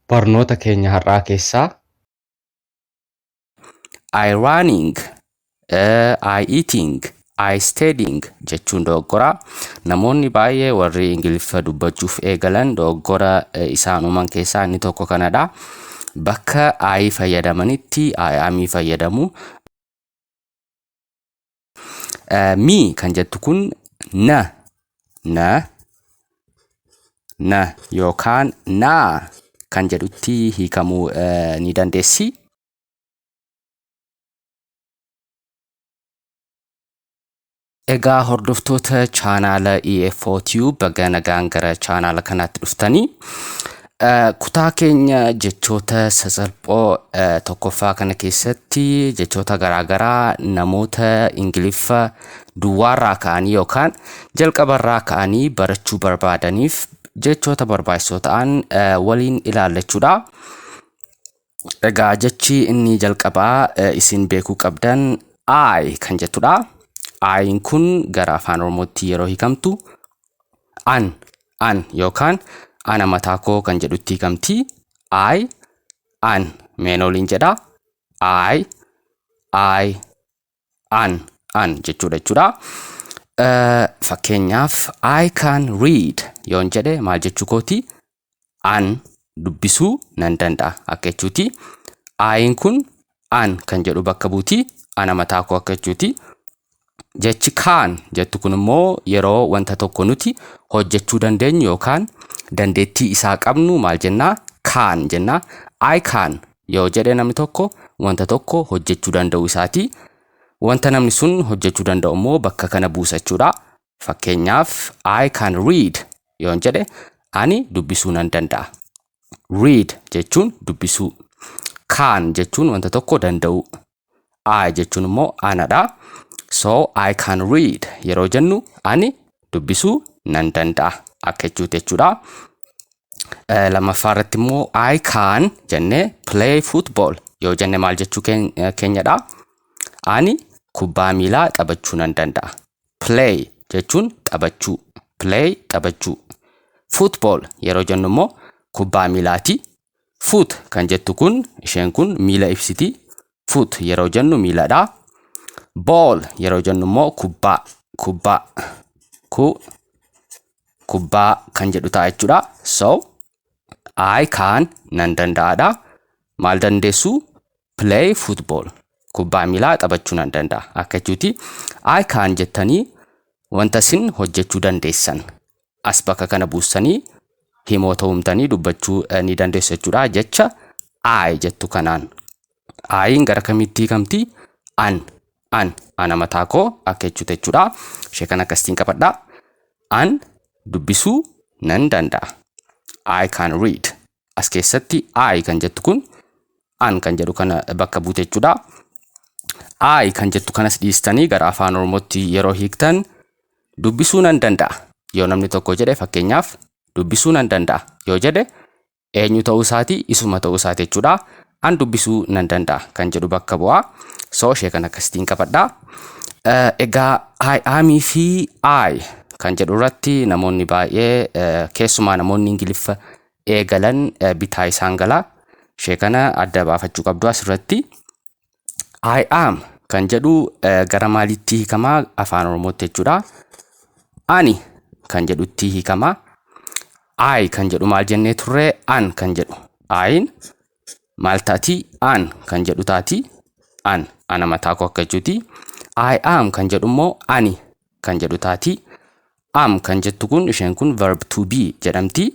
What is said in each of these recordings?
barnoota keenya har'aa keessaa. I running, I eating, I studying jechuun dogoggora. Namoonni baay'ee warri Ingiliffa dubbachuuf eegalan dogoggora isaan uuman keessaa inni tokko kanadha. Bakka I fayyadamanitti I amii fayyadamu. Mi kan jettu kun na, na, na yookaan naa kan jedhutti hiikamuu eh, ni dandeessi. Egaa hordoftoota chaanaala EFO Tube baga nagaan gara chaanaala kanaatti dhuftanii. Kutaa keenya jechoota sasalphoo tokkoffaa kana keessatti jechoota garaagaraa namoota Ingiliffa duwwaarraa ka'anii yookaan jalqabarraa ka'anii barachuu barbaadaniif jechoota barbaachisoo ta'an waliin ilaallachuudha. Egaa jechi inni jalqabaa eh, isin beekuu qabdan I kan jettudha. I'n kun gara afaan Oromootti yeroo hiikamtu an an yookaan ana mataa koo kan jedhutti hiikamti. I an meen oliin jedha. I I an an jechuudha jechuudha. Eh, Fakkeenyaaf I can read yoon jedhe maal jechuu kooti? An dubbisuu nan danda'a akka jechuuti. Ayin kun an kan jedhu bakka buuti. Ana mataa koo akka jechuuti. Jechi kaan jettu kun immoo yeroo wanta tokko nuti hojjechuu dandeenyu yookaan dandeettii isaa qabnu maal jennaa? Kaan jennaa. I can Yoo jedhe namni tokko wanta tokko hojjechuu danda'u isaati. Wanta namni sun hojjechuu danda'u immoo bakka kana buusa jechuudha. Fakkeenyaaf I can read yoon jedhe ani dubbisuu nan danda'a. Read jechuun dubbisuu. Can jechuun wanta tokko danda'uu. I jechuun immoo anadha. So I can read yeroo jennu ani dubbisuu nan danda'a akka jechuuti jechuudha. Eh, Lammaffaa irratti immoo I can jennee play football yoo jenne maal jechuu keen- eh, keenyadha. Ani kubbaa miilaa taphachuu nan danda'a. Play jechuun taphachuu. Play taphachuu. Football yeroo jennu immoo kubbaa miilaati Foot kan jettu kun isheen kun miila ibsiti. Foot yeroo jennu miiladha. Ball yeroo jennu immoo kubbaa kubbaa ku kubbaa kan jedhu ta'a jechuudha. So I can nan danda'adha. Maal dandeessu? Play football. Kubbaa miilaa taphachuu nan danda'a. Akka jechuuti I can jettanii wanta isin hojjechuu dandeessan as bakka kana buussanii himoota uumtanii dubbachuu eh, ni dandeessu jechuudha. Jecha I jettu kanaan I'n gara kamitti hiikamti? An, an, ana mataa koo akka jechuuti jechuudha. Ishee kana akkasitiin qabadha. An dubbisuu nan danda'a. I can read. as keessatti I kan jettu kun an kan jedhu kana bakka buute jechuudha. I kan jettu kanas dhiistanii gara afaan oromootti yeroo hiiktan dubbisuu nan danda'a yoo namni tokko jedhe fakkeenyaaf dubbisuu nan danda'a yoo jedhe eenyu ta'uu isaati isuma ta'uu isaati jechuudha. An dubbisuu nan danda'a kan jedhu bakka bu'a. So ishee kan akkasitiin qabadha. Eh, Egaa I am fi I kan jedhu irratti namoonni baay'ee eh, keessumaa namoonni Ingiliffa eegalan bitaa isaan gala. Ishee kana adda baafachuu qabdu asirratti. I am kan jedhu gara maaliitti hiikama afaan oromootti jechuudha. Ani kan jedhutti hiikama. I kan jedhu maal jennee turre an kan jedhu. Ayin maal taati an kan jedhu taati. An ana mataa koo akka jechuuti. I am kan jedhu immoo ani kan jedhu taati. Am kan jettu kun isheen kun verb to be jedhamti.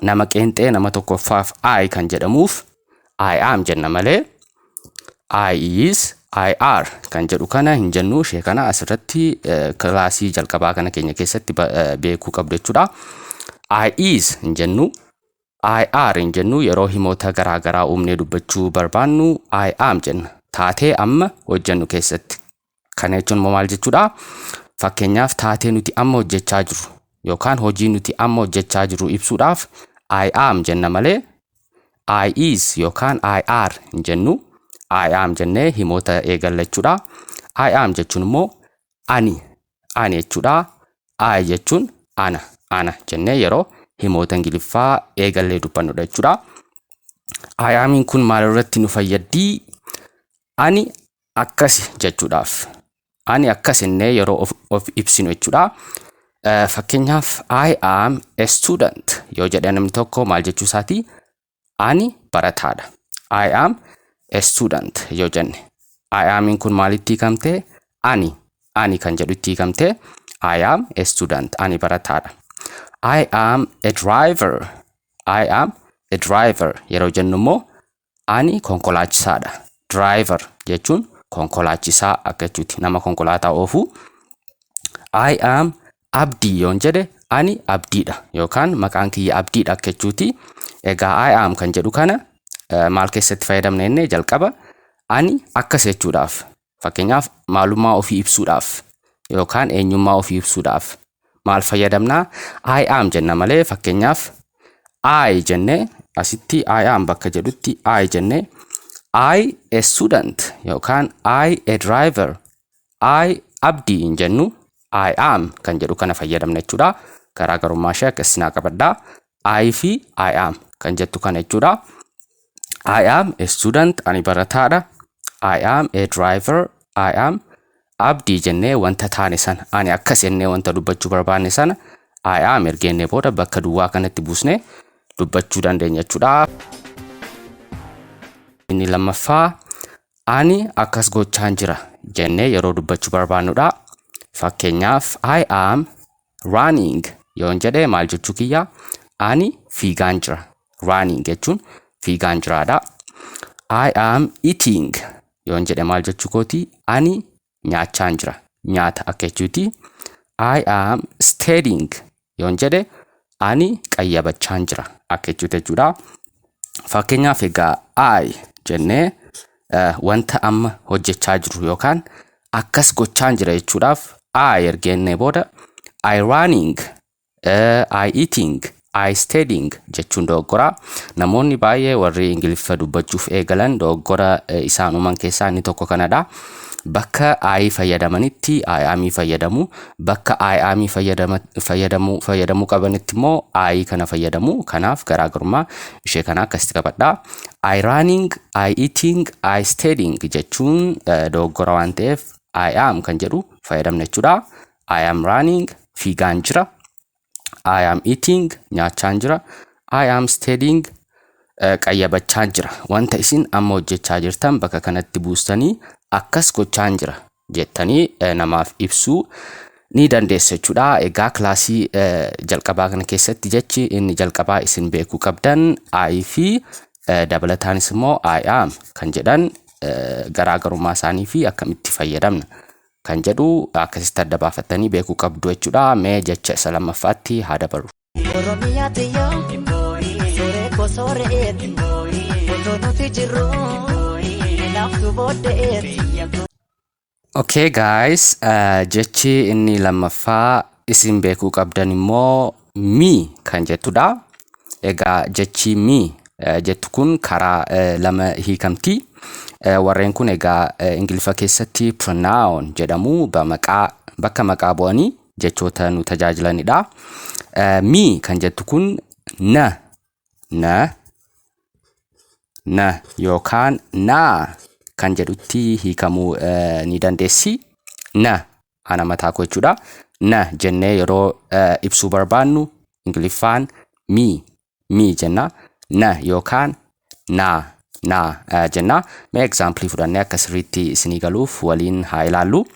Nama qeenxee nama tokkoffaaf I kan jedhamuuf I am jenna malee I is I are kan jedhu kana hin jennu ishee kana asirratti eh, kilaasii jalqabaa kana keenya keessatti ba- eh, beekuu qabdu jechuudha. I is hin jennu I are hin jennu yeroo himoota garaa garaa uumnee dubbachuu barbaannu I am jenna. Taatee amma hojjennu keessatti Kana jechuun immoo maal jechuudha? Fakkeenyaaf taatee nuti amma hojjechaa jirru yookaan hojii nuti amma hojjechaa jirru ibsuudhaaf I am jenna malee I is yookaan I are hin jennu. I am jennee himoota eegalla jechuudha. I am jechuun immoo ani ani jechuudha. I jechuun ana ana jennee yeroo himoota ingiliffaa eegallee dubbannudha jechuudha. I amiin kun maalirratti nu fayyaddii? Ani akkasi jechuudhaaf. Ani akkas innee yeroo of, of ibsinu jechuudha. Eh, Fakkeenyaaf, I am a student yoo jedhe namni tokko maal jechuu isaati? Ani barataadha. I am a student yoo jenne. I amin kun maalitti hiikamte? Ani. Ani kan jedhu itti hiikamte. I am a student. Ani barataadha. I am a driver. I am a driver yeroo jennu immoo Ani konkolaachisaadha. Driver jechuun konkolaachisaa akka jechuuti. Nama konkolaataa oofu. I am abdii yoon jedhe ani abdiidha yookaan maqaan kiyya abdiidha akka jechuuti. Egaa I am kan jedhu kana maal keessatti fayyadamna jennee jalqaba ani akkas jechuudhaaf Fakkeenyaaf maalummaa ofii ibsuudhaaf yookaan eenyummaa ofii ibsuudhaaf maal fayyadamna? I am jenna malee fakkeenyaaf I jenne asitti I am bakka jedhutti I jenne I a student yookaan I a driver I abdii hin jennu I am kan jedhu kana fayyadamna jechuudha. Garaagarummaa ishee akka isinaa qabadhaa. I fi I am kan jettu kana jechuudha. I am a student ani barataadha. I am a driver I am abdii jennee wanta taane sana ani akkas jennee wanta dubbachuu barbaanne sana I am ergeennee booda bakka duwwaa kanatti buusnee dubbachuu dandeenya jechuudha. Inni lammaffaa ani akkas gochaan jira jennee yeroo dubbachuu barbaannudha. Fakkeenyaaf I am Running yoon jedhe maal jechuu kiyya? Ani fiigaan jira. Running jechuun fiigaan jiraadha. I am eating yoon jedhe maal jechuu kooti? Ani nyaachaan jira. Nyaata akka jechuuti. I am studying yoon jedhe ani qayyabachaan jira akka jechuuti jechuudha. Fakkeenyaaf egaa I jennee wanta amma hojjechaa jiru yookaan akkas gochaan jira jechuudhaaf I ergeennee booda I running, uh, I eating, I studying jechuun dogoggoraa. Namoonni baay'ee warri Ingiliffa dubbachuuf eegalan dogoggora eh, isaan uuman keessaa inni tokko kanadha. Bakka I fayyadamanitti I am fayyadamu. Bakka I am fayyadama- fayyadamu fayyadamuu qabanitti immoo I kana fayyadamu. Kanaaf garaagarummaa ishee kana akkasitti qabadha. I running I eating, I studying jechuun eh, dogoggora waan ta'eef I am kan jedhu fayyadamna jechuudha. I am running fiigaan jira. I am eating nyaachaan jira. I am studying eh, qayyabachaan jira. Wanta isin amma hojjechaa jirtan bakka kanatti buustanii akkas gochaan jira jettanii eh, namaaf ibsuu ni dandeessu jechuudha. Egaa kilaasii eh, jalqabaa kana keessatti jechi inni jalqabaa isin beekuu qabdan I fi eh, dabalataanis immoo I am kan jedhan eh, garaagarummaa isaanii fi akkamitti fayyadamna kan jedhu akkasitti adda baafattanii beekuu qabdu jechuudha. Mee jecha isa lammaffaatti haa dabarru. Oromiyaa tiyya Sooree koo sooreeti Otoo nuti jirru Hinaaftu booddeeti Okay guys, uh, jechi inni lammaffaa isin beekuu qabdan immoo mi kan jettudha. Egaa jechi mi uh, jettu kun karaa uh, lama hiikamti. Uh, warreen kun egaa uh, Ingiliffa keessatti pronoun jedhamu ba maqaa bakka maqaa bu'anii jechoota nu tajaajilanidha. Eh, Mi kan jettu kun na, na, na yookaan naa kan jedhutti hiikamuu eh, ni dandeessi. Na ana mataa koo jechuudha. Na jennee yeroo eh, ibsuu barbaannu Ingiliffaan mi mii jenna na yookaan naa naa eh, jenna mee egzaampilii fudhannee akka sirriitti isinii galuuf waliin haa ilaallu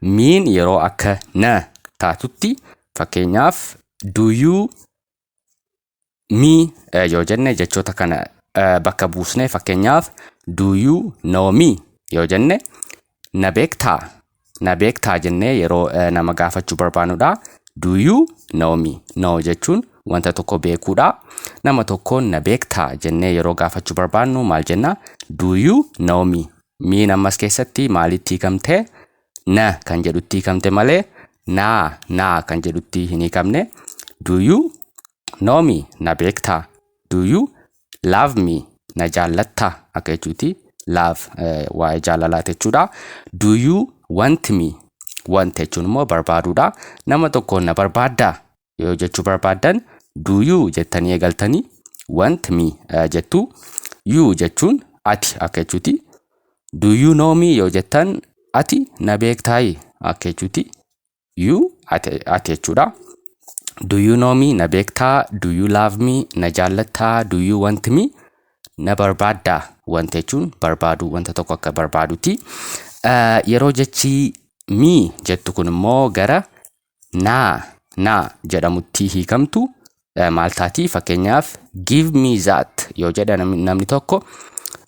miin yeroo akka na taatutti fakkeenyaaf duyuu mii eh, yoo jenne jechoota kana eh, bakka buusnee fakkeenyaaf duyuu noomii yoo jenne na beektaa na beektaa jennee yeroo eh, nama gaafachuu barbaanudha do you know me know jechuun wanta tokko beekuudha nama tokkoon na beektaa jennee yeroo gaafachuu barbaannu maal jenna do you know me miin ammas keessatti maalitti hiikamte na kan jedhutti hiikamte malee naa naa kan jedhutti hin hiikamne do you know me na beektaa do you love me na jaallatta akka jechuuti love eh, waa'ee jaalalaati jechuudha do you want me want jechuun immoo barbaaduudha nama tokkoon na barbaaddaa yoo jechuu barbaaddan do you jettanii eegaltanii want me eh, jettu you jechuun ati akka jechuuti do you know me yoo jettan ati na beektaayi akka jechuuti you ati ati jechuudha. Do you know me na beektaa do you love me na jaallattaa do you want me na barbaaddaa wanta jechuun barbaaduu wanta tokko akka barbaaduti. Eh, Yeroo jechi mi jettu kun immoo gara naa naa jedhamutti hiikamtu eh, maal taati fakkeenyaaf give me that yoo jedha namni namni tokko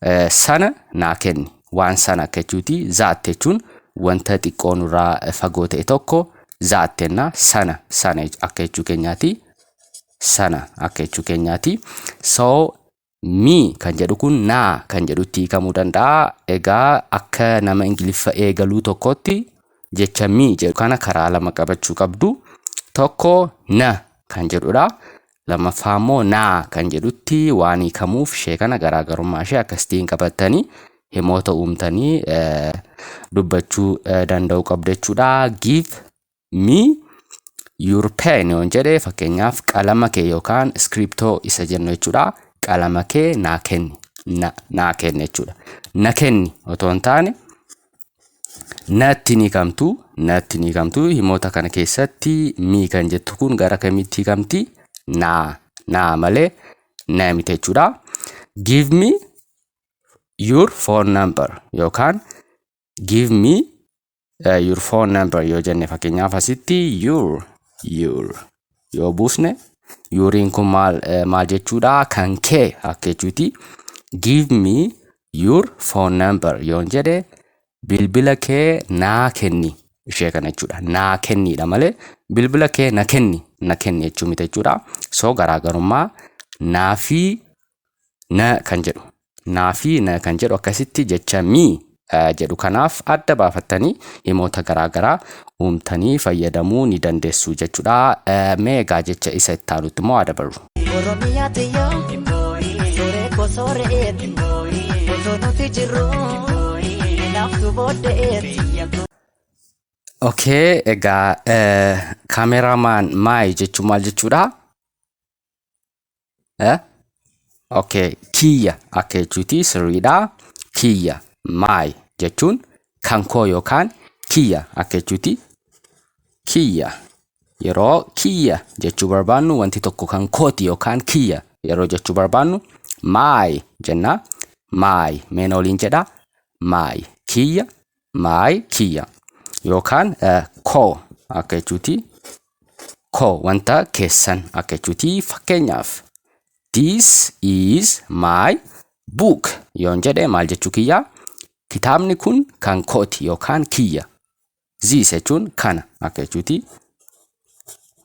eh, sana naa kenni waan sana akka jechuuti that jechuun wanta xiqqoo nurraa eh, fagoo ta'e tokko that jennaa sana sana jech- akka jechuu keenyaati sana akka jechuu keenyaati so Mi kan jedhu kun na kan jedhutti hiikamuu danda'a. Egaa akka nama Ingiliffa eegaluu tokkotti jecha mi jedhu kana karaa lama qabachuu qabdu. Tokko na kan jedhudha. Lammaffaa immoo na kan jedhutti waan hiikamuuf ishee kana garaagarummaa ishee akkasitiin qabattanii himoota uumtanii dubbachuu danda'uu qabdu jechuudha. Give me your pen yoon jedhe fakkeenyaaf qalama kee yookaan iskiriptoo isa jennu jechuudha qalama kee naa kenni na naa kenni jechuudha na kenni otoo hin taane natti ni kamtu natti ni kamtu himoota kana keessatti mii kan jettu kun gara kamitti kamti naa naa malee na miti jechuudha give me your phone number yookaan give me uh, your phone number yoo jenne fakkeenyaaf asitti your your yoo buusne yuuriin kun maal eh, maal jechuudha kan kee akka jechuuti give me your phone number yoon jedhe bilbila kee naa kenni ishee kana jechuudha naa kenniidha malee bilbila kee na kenni na kenni jechuu miti jechuudha so garaagarummaa naa fi na kan jedhu naa fi na kan jedhu akkasitti jecha mi jedhu kanaaf adda baafattanii himoota garaa garaa uumtanii fayyadamuu ni dandeessu jechuudha. Mee egaa jecha isa itti aanutti immoo haa dabarru. Oromiyaa tiyyaa Sooree koo sooreeti Osoo nuti jirru Naaftu booddeeti Okay, egaa kaameramaan maayi jechuun maal jechuudha? Eh? Okay, kiyya akka jechuuti sirriidha. Kiyya, my jechuun kan koo yookaan kiyya akka jechuuti. Kiyya. Yeroo kiyya jechuu barbaannu wanti tokko kan kooti yookaan kiyya yeroo jechuu barbaannu my jenna. My meena waliin jedha. My kiyya my kiyya yookaan eh, koo akka jechuuti koo wanta keessan akka jechuuti fakkeenyaaf this is my book yoon jedhe maal jechuu kiyya kitaabni kun kan kooti yookaan kiyya this jechuun kana akka jechuuti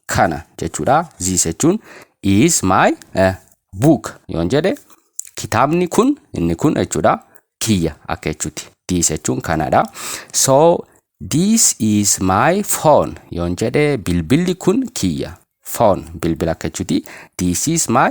kana jechuudha this jechuun is my eh, book yoon jedhe kitaabni kun inni kun jechuudha kiyya akka jechuuti this jechuun kanadha so this is my phone yoon jedhe bilbilli kun kiyya phone bilbila akka jechuuti this is my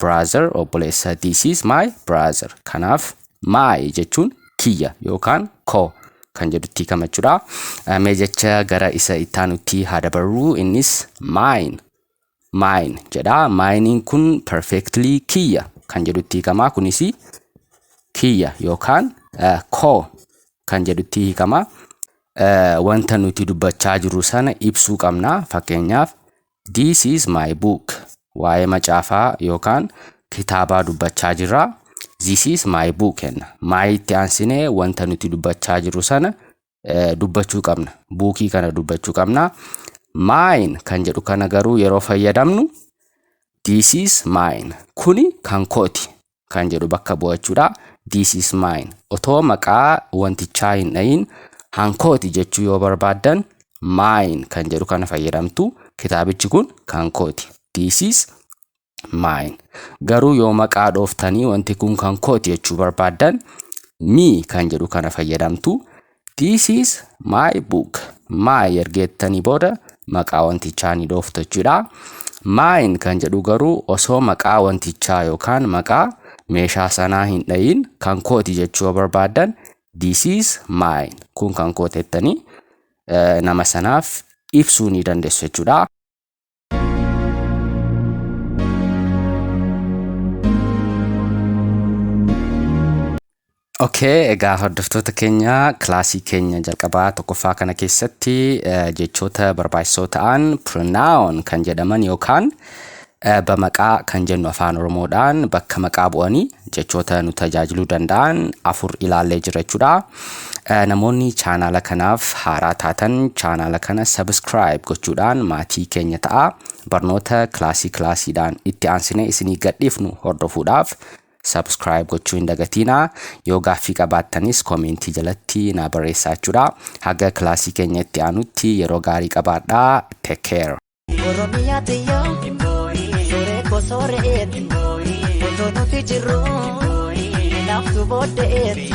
brother obboleessa this is my brother kanaaf my jechuun kiyya yookaan ko kan jedhutti kamachuudha mee jecha gara isa ittaanutti haa dabarru innis mine mine jedha minein kun perfectly kiyya kan jedhutti hikamaa kunis kiyya yookaan ko kan jedhutti hikama wanta nuti dubbachaa jirru sana ibsuu qabna fakkeenyaaf This is my book. Waa'ee macaafaa yookaan kitaabaa dubbachaa jirra. This is my book jenna. My itti aansinee wanta nuti dubbachaa jirru sana eh, dubbachuu qabna. Buukii kana dubbachuu qabna. Mine kan jedhu kana garuu yeroo fayyadamnu This is mine. Kuni kan kooti. kan jedhu bakka bu'a jechuudha. This is mine. Otoo maqaa wantichaa hin dhahin hankooti jechuu yoo barbaaddan mine kan jedhu kana fayyadamtu. Kitaabichi kun kan kooti. This is mine. Garuu yoo maqaa dhooftanii wanti kun kan kooti jechuu barbaaddan me kan jedhu kana fayyadamtu. This is my book. My ergeettanii booda maqaa wantichaa ni dhooftu jechuudha. Mine kan jedhu garuu osoo maqaa wantichaa yookaan maqaa meeshaa sanaa hin dhayin kan kooti jechuu yoo barbaaddan this is mine kun kan kootettanii nama sanaaf ibsuu ni dandeessu jechuudha. Okay, egaa hordoftoota keenya kilaasii keenya jalqabaa tokkoffaa kana keessatti eh, jechoota barbaachisoo ta'an pronoun kan jedhaman yookaan eh, bamaqaa kan jennu afaan oromoodhaan bakka maqaa bu'anii jechoota nu tajaajiluu danda'an afur ilaallee jirra jechuudha. Namoonni chaanaala kanaaf haaraa taatan chaanaala kana subscribe gochuudhaan maatii keenya ta'a. Barnoota kilaasii kilaasiidhaan itti aansinee isinii gadhiifnu hordofuudhaaf subscribe gochuu hin dagatiina. Yoo gaaffii qabaattanis koomeentii jalatti naa barreessaa jechuudha. Haga kilaasii keenya itti aanutti yeroo gaarii qabaadhaa. Take care. Oromiyaa tiyyoo Sooree koo sooreetti Otoo nuti jirru Naaftu booddeetti